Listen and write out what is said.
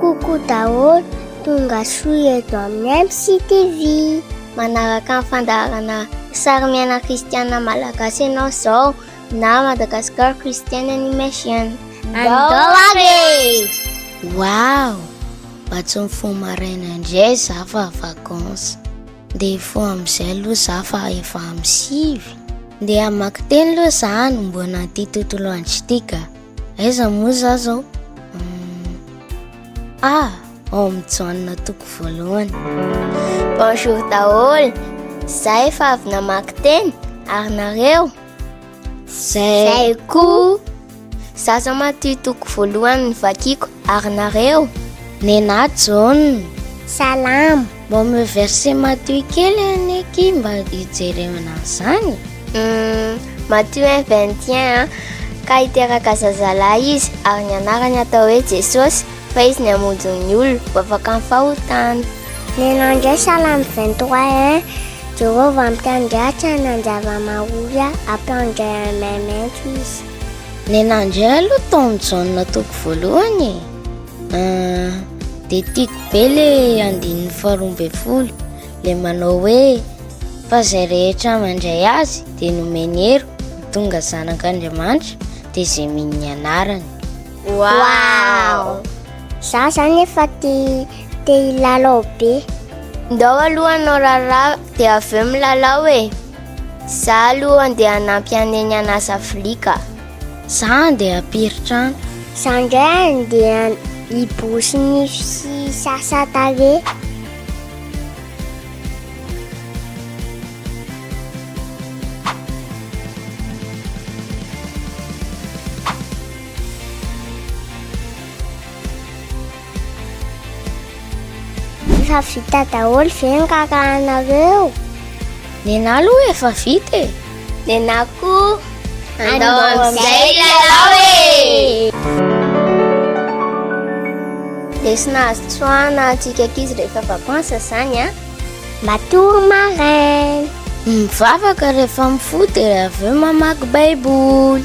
Coucou daholo, tonga soa eto amin'ny MCTV. Manaraka ny fandaharana sary miaina kristiana malagasy ianao izao na Madagascar Christian Animation. Andao ary e! Wow! Mba tsy mifoha maraina indray za fa vacances. Dia hifoha amin'izay aloha za fa efa amin'ny sivy. Dia hamaky teny aloha za hanomboana ity tontolo andro ity ka. Aiza moa za zao? Hmm. Ah, ao amin'ny Joanna toko voalohany. Bonjour daholo. Za efa avy namaky teny ary nareo? Zay koa Zaza maty toko voalohany vakiko Ary nareo Nena John Salam Mba me verset Matthieu kely anie ki mba hijerena an'izany hmm, Matthieu 21 Ka hiteraka zazalahy izy Ary ny anarany atao hoe Jesosy Fa izy ny hamonjy ny olona ho afaka amin'ny fahotana. Nenao indray Salamo 23 hein Jehovah ampiandratra nanjavamahoria ampiandray an'i Maimainty izy. Nenao indray aloha taon'ny Jaona toko voalohany e ahh Dia tiako be le andininy faharoa ambin'ny folo le manao hoe Fa izay rehetra mandray azy dia nomeny hery ho tonga zanak'Andriamanitra dia izay mino ny anarany Wow! Za zany efa te te hilalao be. Ndao aloha anao raharaha de avy eo milalao e. Za aloha andeha hanampy an'eny hanasa vilia ka. Za andeha hampiry trano. Za ndray andeha hiborosy nify sy hisasa tarehy. Efa vita daholo ve ny rarahanareo? Nenah aloha efa vita e! Nenah koa! Andao amin'izay lalao e! Lesona azo tsoahina antsika ankizy rehefa vacances izany an! Matory maraina! Mivavaka rehefa mifoha dia avy eo mamaky baiboly!